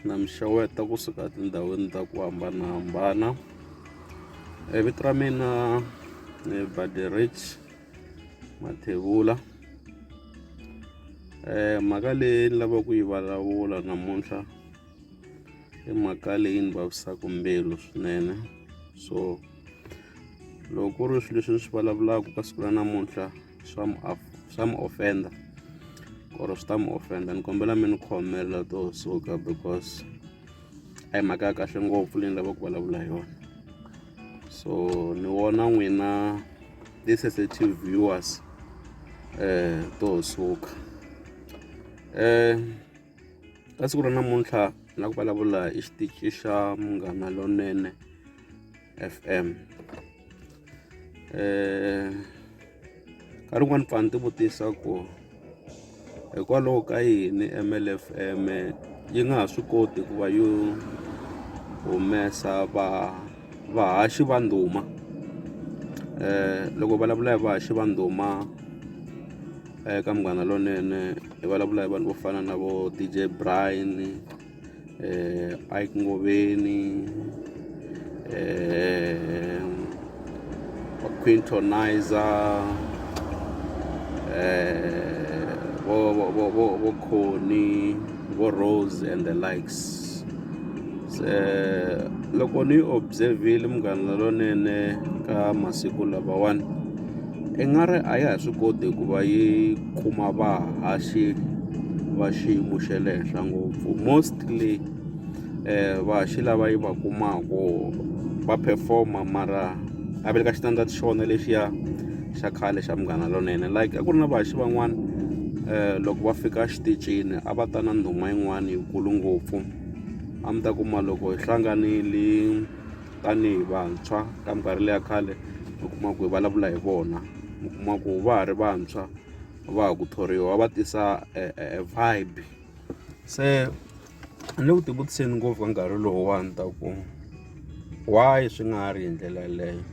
na mi xeweta kusuka etindhawini ta ku hambanahambana e vito ra mina ni baderich mathevula um mhaka leyi ni lava ku yi vulavula namuntlha i mhaka leyi ni vavisaka mbilu swinene so loko ku ri swilo leswi ni swi vulavulaka ka siku ra namuntlha swa mu swa mu offend or swi ta mu offend ni kombela mi ni khomela to suka because a hi mhaka ya kahle ngopfu leyi ni lava ku vulavula hi yona so ni wona n'wina ti-sensitive viewers eh to suka eh ka siku ra namuntlha na ku vulavula hi xitichi xa munghana lonene F_M nkarhi wun'wani ni pfa ni ti vutisa ku hikwalaho ka yini M_L F_M yi nga ha swi koti ku va yo humesa va vahaxi va ndhuma loko vulavula hi vahaxi va ndhuma eka Munghana Lonene hi vulavula hi vanhu vo fana na vo D_J Brian. Ike Ngoveni, vho Quintonizer, vho vho vho vho vho Connie, vho Rose and the likes. Se loko ni observe-ile Munghana Lonene ka masiku lamawani i nga ri a ya ha swi koti ku va yi. Kuma vahaxi va xiyimo xa le henhla ngopfu mostly vahaxi lava yi va kumaka va perform-a mara a va le ka xitandzato xa vona lexiya xa khale xa Munghana Lonene like a ku ri na vahaxi van'wana loko va fika exitichini a va ta na ndhuma yin'wana yikulu ngopfu a mi ta kuma loko hi hlanganile. tanihi vantshwa ka minkarhi leya khale mi kuma ku hi vulavula hi vona mi kuma ku va ha ri vantshwa va ha ku thoriwa va tisa e, e, e vibe se ni le ku tivutiseni ngopfu ka nkarhi lowuwani ta ku why swi nga ha ri hi ndlela yeleyo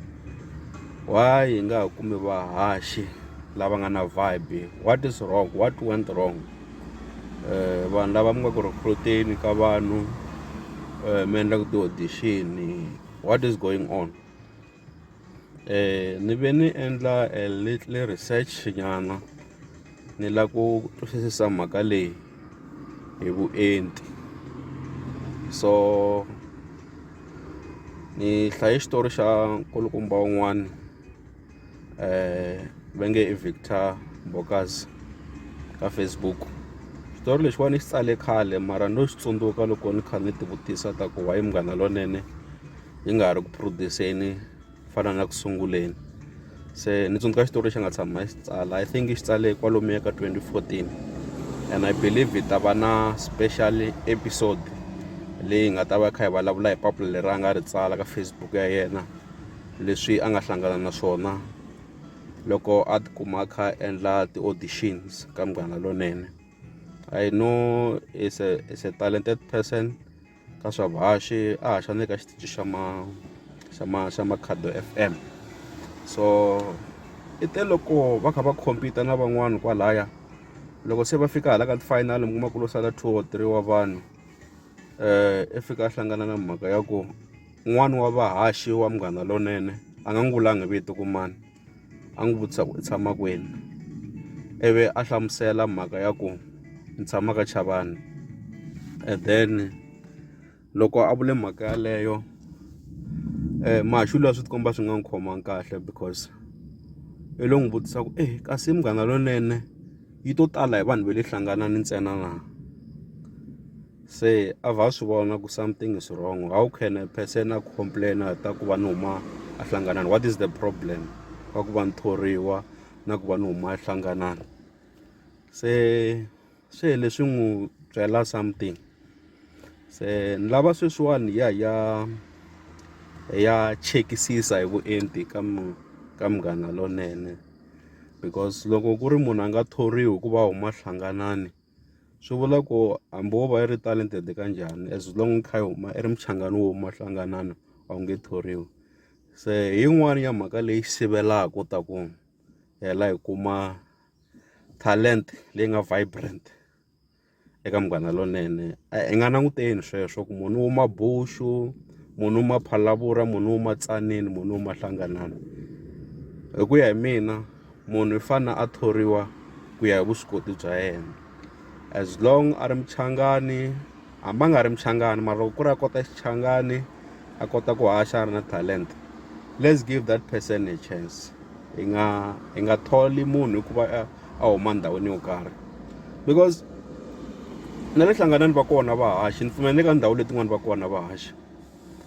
why hi nga ha kumi vahaxi lava nga na vibe what is wrong what went wrong vanhu lava mi nga ku recruit-eni ka vanhu mi endla ku ti-audition what is going on ni ve ni endla a little research nyana ni la ku twisisa mhaka leyi hi vuenti so ni hlaye xitori xa nkulukumba wun'wani. eh va nge i Victor Bokas ka Facebook xitori lexiwani xi tsale khale mara no xi tsundzuka loko ni kha ni tivutisa ta ku wayi munghana lonene yi nga ha ri ku produseni fana na ku sunguleni se ni tsundzuka xitori lexi nga tshama xi tsala i think xi tsale kwalomuya ka 2014 and i believe hi ta va na special episode leyi nga ta va kha hi vulavula hi papila leri a nga ri tsala ka Facebook ya yena leswi a nga hlangana na swona loko a tikuma a kha a endla ti-auditions ka munghana lonene i know is a is a talented person ka swa vuhaxi a haxa ni le ka xitichi xa ma xa ma xa makhado F_M so i te loko va kha va compete na van'wani kwalaya loko se va fika hala ka ti-final mi kuma ku lo sala two or three wa vanhu i fika a hlangana na mhaka ya ku. Un'wana wa vahaxi wa Munghana Lonene a nga n'wi vulanga hi vito ku mani a n'wi vutisa ku i tshama kwini ivi a hlamusela mhaka ya ku ni tshama ka Chavani and then loko a vule mhaka yaleyo Mahaxula swi ti komba swi nga n'wi khomangi kahle because i lo n'wi vutisa ku e kasi Munghana Lonene yi to tala hi vanhu va le hlanganani ntsena na. se a va swi vona ku something is wrong how can a person a complaina ta ku va ni huma a hlanganani what is the problem ka ku va ni thoriwa na ku va ni huma a hlanganani se swi hele swi n'wi byela something se ni lava sweswiwani ya ya ya chekisisa hi vuenti ka ka munghana lonene because loko ku ri munhu a nga thoriwi hikuva huma hlanganani. swi vula ku hambi wo va i ri talented ka njhani as long i kha i huma i ri muchangani wo huma hlanganana a wu nge thoriwi se hi yin'wani ya mhaka leyi sivelaka u ta ku hela hi kuma talent leyi nga vibrant eka Munghana Lonene i nga languteli sweswo ku munhu u huma Buxu munhu u huma Phalaborwa munhu u huma Tzaneen munhu u huma Hlanganani hi ku ya hi mina. Munhu i fane a thoriwa ku ya hi vuswikoti bya yena as long a ri muchangani hambi a nga ri muchangani mara loko ku ri a kota Xichangani a kota ku haxa a ri na talenta let's give that person a chance hi nga hi nga tholi munhu hikuva a huma ndhawini yo karhi because na le hlanganani va kona vahaxi ni pfumela ni le ka ndhawu letin'wani va kona vahaxi.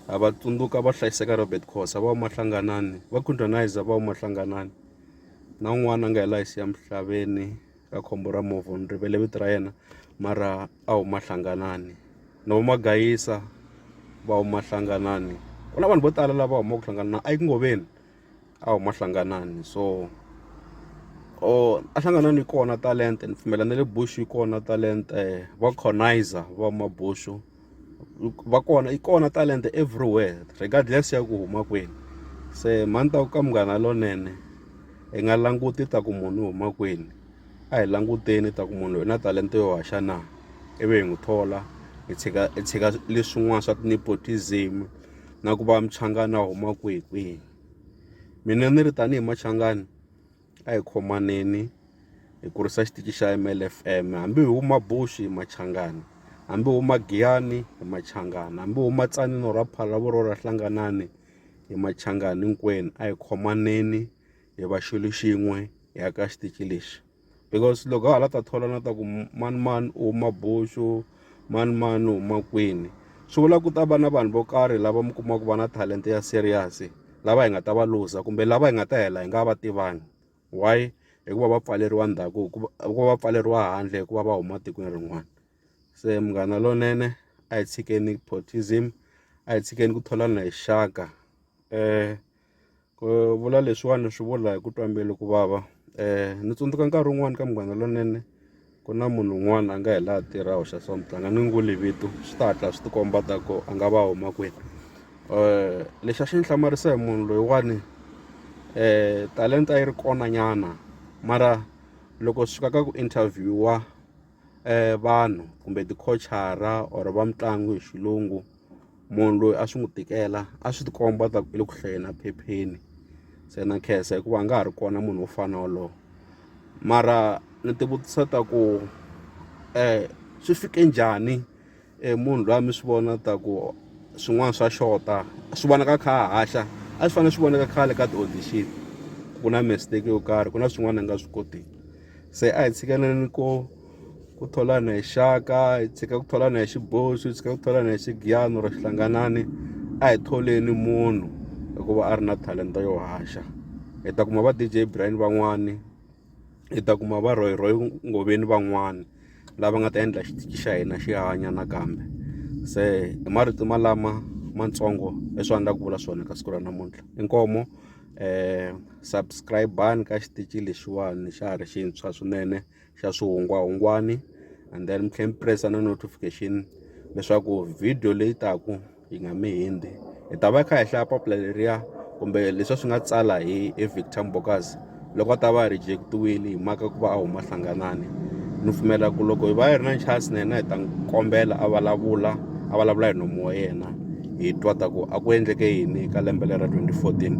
ha va tsundzuka va hlayiseka Robert Khosa va mahlanganani va Khundwanayiza va mahlanganani na un'wana a nga hi laha siya misaveni ka khombo ra movha ni rivele vito ra yena mara a wu mahlanganani na vo magayisa va wu mahlanganani ku na vanhu vo tala lava humaka ku hlangana na a yi ku ngoveni. a huma Hlanganani so a Hlanganani yi kona talenta ni pfumela na le Bush yi kona talenta va Conizer va huma Bush va kona yi kona talenta everywhere regardless ya ku huma kwini se mhani ta ku ka Munghana Lonene hi nga languti ta ku munhu u huma kwini a hi languteni ta ku munhu loyi na talenta yo haxa na ivi hi n'wi thola hi tshika hi tshika leswin'wana swa ti-nepotism. na ku va muchangani a huma kwihi kwihi mina ni ri tanihi machangani a hi khomaneni hi kurisa xitichi xa M_L_F_M hambi hi huma Bush hi machangani hambi hi huma Giyani hi machangani hambi hi huma Tzaneen or Phalaborwa or Hlanganani hi machangani hinkwenu a hi khomaneni hi va xilo xin'we hi aka xitichi lexi. because loko hala ta thola na ta ku mani mani u huma boxo mani mani u huma kwini swi vula ku ta va na vanhu vo karhi lava mi kumaka va na talenta ya serious lava hi nga ta va luza kumbe lava hi nga ta hela hi nga va tivangi why hikuva va pfaleriwa ndhaku hikuva va pfaleriwa handle hikuva va huma tikweni rin'wana se munghana lonene a hi tshikeni potism a hi tshikeni ku tholana hi xaka um ku vula leswiwani swi vula hi ku twa mbilu ku vava um ni tsundzuka nkarhi wun'wani ka munghana lonene ku na munhu un'wana a nga hi laha tirha hoxa so mutlanga ni n'wi vito swi ta hatla swi tikomba ta ku a nga va huma kwini um lexi a xi ni hlamarisa hi munhu loyiwani um talenta yi ri kona nyana mara loko swi fika ka ku interview-wa um vanhu kumbe ti-coach-ara or va mitlangu hi xilungu. munhu loyi a swi n'wi tikela a swi ti komba ta ku i le ku hlayeni a phepheni se na khensa hikuva a nga ha ri kona munhu wo fana na wolowo mara ni ti vutisa ta ku swi fike njhani munhu loyi a mi swi vona ta ku swin'wana swa xota swi vonaka a kha a haxa a swi fanele swi vonaka khale ka ti-audition ku na mistake yo karhi ku na swin'wana a nga swi kotiki se a hi tshikeleleni ko. ku tholana hi xaka hi tshika ku tholana hi xiboxo hi tshika ku tholana hi xigiyano ro xihlanganani a hi tholeni munhu hikuva a ri na talenta yo haxa hi ta kuma va DJ Brian van'wani hi ta kuma va Roy Roy Ngoveni van'wani lava nga ta endla xitichi xa hina xi hanya nakambe se hi marito malama matsongo leswi a ni la ku vula swona ka siku ra namuntlha inkomo um subscribe-ani ka xitichi lexiwani xa ha ri xintshwa swinene xa swihungwahungwani and then mi tlhela mi press na notification leswaku video leyi taku yi nga mi hindzi hi ta va hi kha hi hlaya papila leriya kumbe leswi swi nga tsala hi hi victor mbokas loko a ta va a rejectiwile hi maka ku va a huma hlanganani ni pfumela ku loko hi va hi ri na chance na hina hi ta n'wi kombela a vulavula a vulavula hi nomu wa yena hi twa ta ku a ku endleke yini ka lembe lera twenty fourteen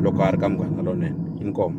loko a ri ka Munghana Lonene inkomu.